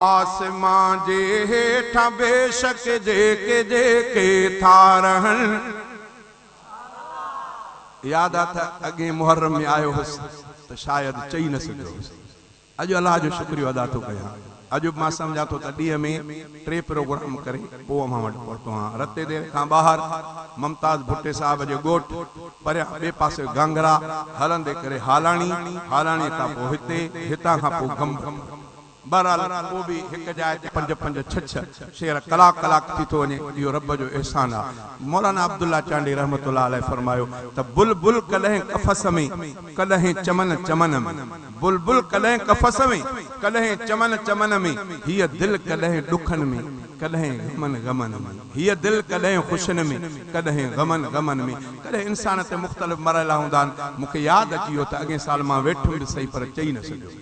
آسمان جي هيٺان بيشڪ جيڪي جيڪي ٿا رهن. ياد آ تھ اڳئين محرم ۾ آيو هوس تھ شايد چئي نھ سگھيو هوس. اڄ الله جو شڪريو ادا ٿو ڪيان. اڄ بھ مان سمجھان ٿو تھ ڏينهن ۾ ٽي پروگرام ڪري پوء اوهان وٽ پهتو آهيان. رتي دير کان ٻاهر ممتاز ڀٽي صاحب جي ڳوٺ، پريان ٻئي پاسي گانگرا، هلندي ڪري هالاڻي، هالاڻيء کان پوء هتي، هتان کان پوء گمبٽ. بهرحال پوء به هڪ جاء تي پنج پنج ڇهه ڇهه شعر ڪلاڪ ڪلاڪ ٿي ٿو وڃي اهو رب جو احسان آ. مولانا عبدالله چانڊئي رحمة الله عليه فرمايو ته بلبل ڪڏهن قفس ۾، ڪڏهن چمن چمن ۾، بلبل ڪڏهن قفس ۾، ڪڏهن چمن چمن ۾، هيء دل ڪڏهن ڏکن ۾، ڪڏهن غمن غمن ۾، هيء دل ڪڏهن خوشين ۾، ڪڏهن غمن غمن ۾، ڪڏهن انسان تي مختلف مرحلا هوندا آهن، مون کي ياد اچي ويو ته اڳئين سال مان ويٺم به سهي پر چئي نه سگهيم.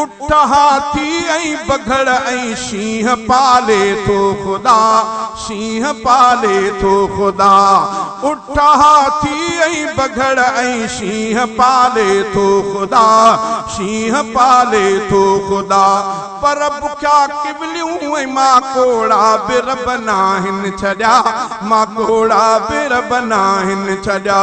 اٺ هاٿي ۽ بگهڙ ۽ شينهن پالي ٿو خدا، شينهن پالي ٿو خدا. اٺ هاٿي ۽ بگهڙ ۽ شينهن پالي ٿو خدا، شينهن پالي ٿو خدا. پر بکيا ڪوليون ۽ ماڪوڙا به رب ناهن ڇڏيا، ماڪوڙا به رب ناهن ڇڏيا.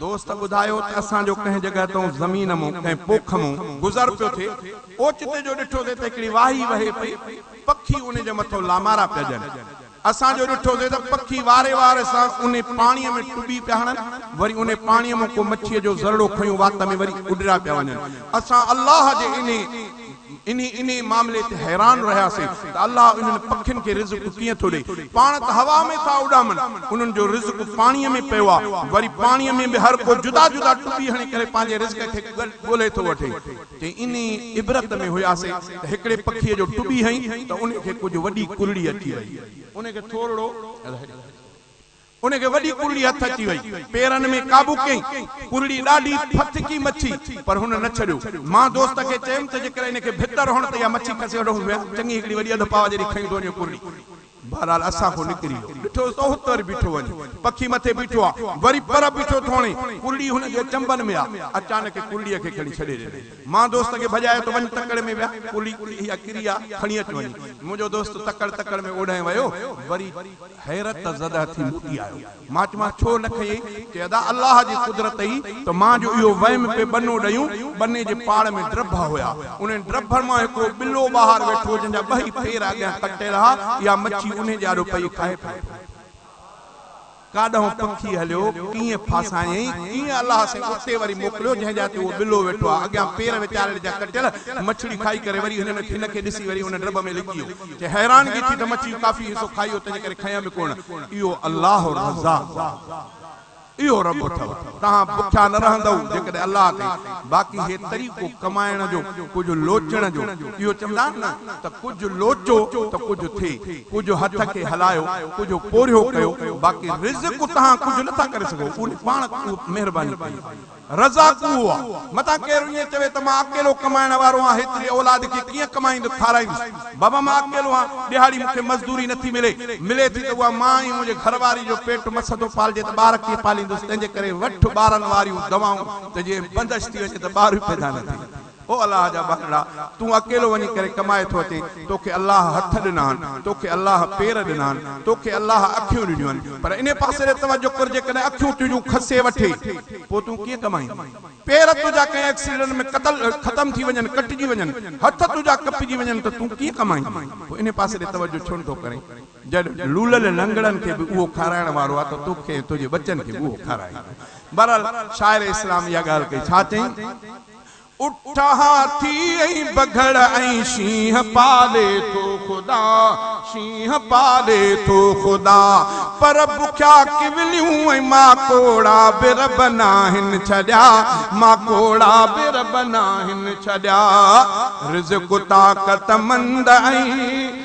دوست ٻڌايو ته اسان جو ڪنهن جڳهه تئون زمين مون ڪنهن پوک مون گذر پيو ٿئي، اوچتي جو ڏٺوسين ته هڪڙي واهي وهي پئي، پکي ان جي مٿو لامارا پيا ڏين. اسان جو ڏٺوسين ته پکي واري وار سان ان پاڻيء ۾ ٽٻي پيا هڻن، وري ان پاڻيء مون ڪو مڇيء جو ذرڙو کنيو وات ۾ وري اڏريا پيا وڃن. اسان الله جي انهي. انهي انهي معاملي تي حيران رهياسين ته الله انهن پکين کي رزق ڪيئن ٿو ڏئي. پاڻ ته هوا ۾ ٿا اڏامن. انهن جو رزق پاڻيء ۾ پيو آهي. وري پاڻيء ۾ به هر ڪو جدا جدا ٽٻي هڻي ڪري پنهنجي رزق کي ڳولهي ٿو وٺي. چي انهي عبرت ۾ هياسين ته هڪڙي پکيء جو ٽٻي هنئي ته انهي کي ڪجهه وڏي ڪرڙي اچي وئي. انهي کي ٿورڙو ان کي وڏي ڪرڙي هٿ اچي وئي. پيرن ۾ قابو ڪيائين. ڪرڙي ڏاڍي ڦٿڪي مڇي، پر هن نه ڇڏيو. مان دوست کي چيم ته جيڪر ان کي ڀتر هڻ ته اها مڇي کسي وٺو هوميان چڱي هڪڙي وڏي اڌ پاء جيڏي کنئي ٿو وڃي ڪرڙي. بهرحال اسان کان نڪري ويو. ڏٺوس ته هت وري بيٺو وڃي. پکي مٿي بيٺو آ. وري پر بيٺو ٿو هڻي. ڪرڙي هن جي چنبن ۾ آ. اچانڪ ڪرڙيء کي کڻي ڇڏي ڏنائين. مان دوست کي ڀڄايو ته وڃ تڪڙ ۾ ويهه. ڪرڙي اها ڪري آ. کڻي اچ وڃي. منهنجو دوست تڪڙ تڪڙ ۾ اوڏانهن ويو. وري. حيرت زده ٿي موٽي آيو. مان چيومانس ڇو نه کنئي؟ چي ادا الله جي قدرت ئي ته مان جو اهو ويم پئي ٻنو ڏيون، ٻني جي پاڙ ۾ ڊرڀا هيا، انهن ڊرڀن مان هڪڙو ٻلو ٻاهر ويٺو هو جنهن جا ٻئي پير اڳيان ڪٽيل ها، اها مڇي انهي جي آڏو پئي کائي پئي ٿي. ڪاڏانهن پکي هليو، ڪيئن ڦاسايئي، ڪيئن الله سائين اتي وري موڪليو جنهن جا تي اهو ٻلو ويٺو ها، اڳيان پير ويچارڙي جا ڪٽيل، مڇڙي کائي ڪري وري هن کي ڏسي وري ان ڊرڀ ۾ لڪي ويو. کي حيرانگي ٿي ته مڇي ڪافي حصو کائي ويو تنهنجي ڪري کنئين به ڪونه. اهو الله الرزاق اهو رب اٿو توهان بکيا نه رهندؤ جيڪڏهن الله تي باقي هي طريقو ڪمائڻ جو ڪجهه لوچڻ جو اهو چوندا آهن نه ته ڪجهه لوچو ته ڪجهه ٿئي ڪجهه هٿ کي هلايو ڪجهه پورهيو ڪيو باقي رزق توهان ڪجهه نه ٿا ڪري سگهو اهو پاڻ مهرباني ڪئي رضا ڪوهه آ، متان ڪير ائين چوي ته مان اڪيلو ڪمائڻ وارو آهيان هيتري اولاد کي ڪيئن ڪمائيندس کارائيندس. بابا مان اڪيلو آهيان ڏهاڙي مون کي مزدوري نه ٿي ملي، ملي ٿي ته اها مان ۽ منهنجي گهر واري جو پيٽ مس ٿو پالجي ته ٻار ڪيئن پاليندس تنهنجي ڪري وٺ ٻارن واريون دوائون ته جي بندش ٿي وڃي ته ٻار به پيدا نه ٿئي. او الله جا ٻارڙا! تون اڪيلو وڃي ڪري ڪمائي ٿو اچين، توکي الله هٿ ڏنا آهن، توکي الله پير ڏنا آهن، توکي الله اکيون ڏنيون آهن، پر انهي پاسي ڏي توجه ڪر جيڪڏهن اکيون تنهنجون کسي وٺي، پوء تون ڪيئن ڪمائين؟ پير تنهنجا ڪنهن ايڪسيڊنٽ ۾ قتل، ختم ٿي وڃن، ڪٽجي وڃن، هٿ تنهنجا ڪپجي وڃن ته تون ڪيئن ڪمائين؟ پوء انهي پاسي ڏي توجه ڇو نٿو ڪرين؟ جڏهن لولل لنگڙن کي به اهو کارائڻ وارو آهي ته توکي ۽ تنهنجي ٻچن کي به اهو کارائيندو. بهرحال شاعر اسلام اها ڳالهه ڪئي، ڇا چيائين؟ اٺا ٿي ۽ بگهڙ ۽ شينهن پالي ٿو خدا، شينهن پالي ٿو خدا، پر بکيا ڪوليون ۽ ماڪوڙا به رب ناهن ڇڏيا، ماڪوڙا به رب ناهن ڇڏيا، رزق طاقتمند ۽.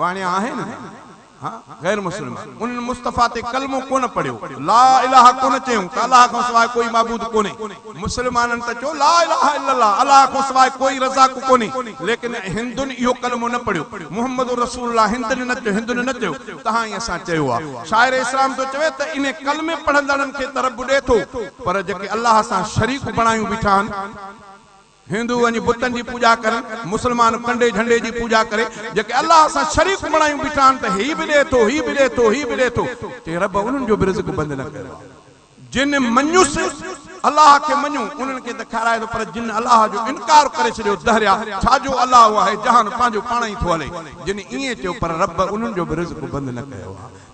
وڻيا آهن ها غير مسلمان انهن مصطفيٰ تي ڪلمو ڪونه پڙهيو لا اله ڪونه چيون ته الله کان سواء ڪوئي معبود ڪونهي مسلمانن ته چيو لا اله الا الله الله کان سواء ڪوئي رزاق ڪونهي ليڪن هندن اهو ڪلمو نه پڙهيو محمد رسول الله هندن نه چيو هندن نه چيو تهائين اسان چيو آهي شاعر اسلام ٿو چوي ته انهي ڪلمي پڙهندڙن کي ته رب ڏي ٿو پر جيڪي الله سان شريڪ بڻايون بيٺا آهن هندو وڃي بتن جي پوڄا ڪرن، مسلمان ڪنڊي جهنڊي جي پوڄا ڪري، جيڪي الله سان شريڪ بڻايون بيٺا آهن ته هي به ڏئي ٿو، هي به ڏئي ٿو، هي به ڏئي ٿو، چئي رب انهن جو به رزق بند نه ڪيو آهي. جن مڃيس، الله کي مڃيو، انهن کي ته کارائي ٿو پر جن الله جو انڪار ڪري ڇڏيو دهريا ڇا جو الله اهي جهان پنهنجو پاڻ ئي ٿو هلي، جن ائين چيو پر رب انهن جو به رزق بند نه ڪيو آهي.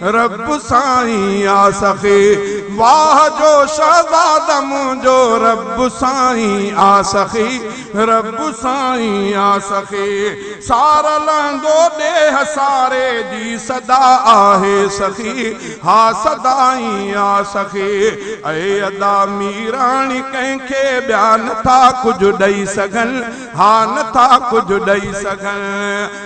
رب سائين آ سخي واھ جو شھزاد منھنجو رب سائين آ سخي رب سائين آ سخي سار لھندو ڏيھ ساري جي صدا آھي سخي ھا صدا ئي آ سخي اي ادا ميراڻي ڪنھن کي ٻيا نٿا ڪجھ ڏئي سگھن ھا نٿا ڪجھ ڏئي سگھن.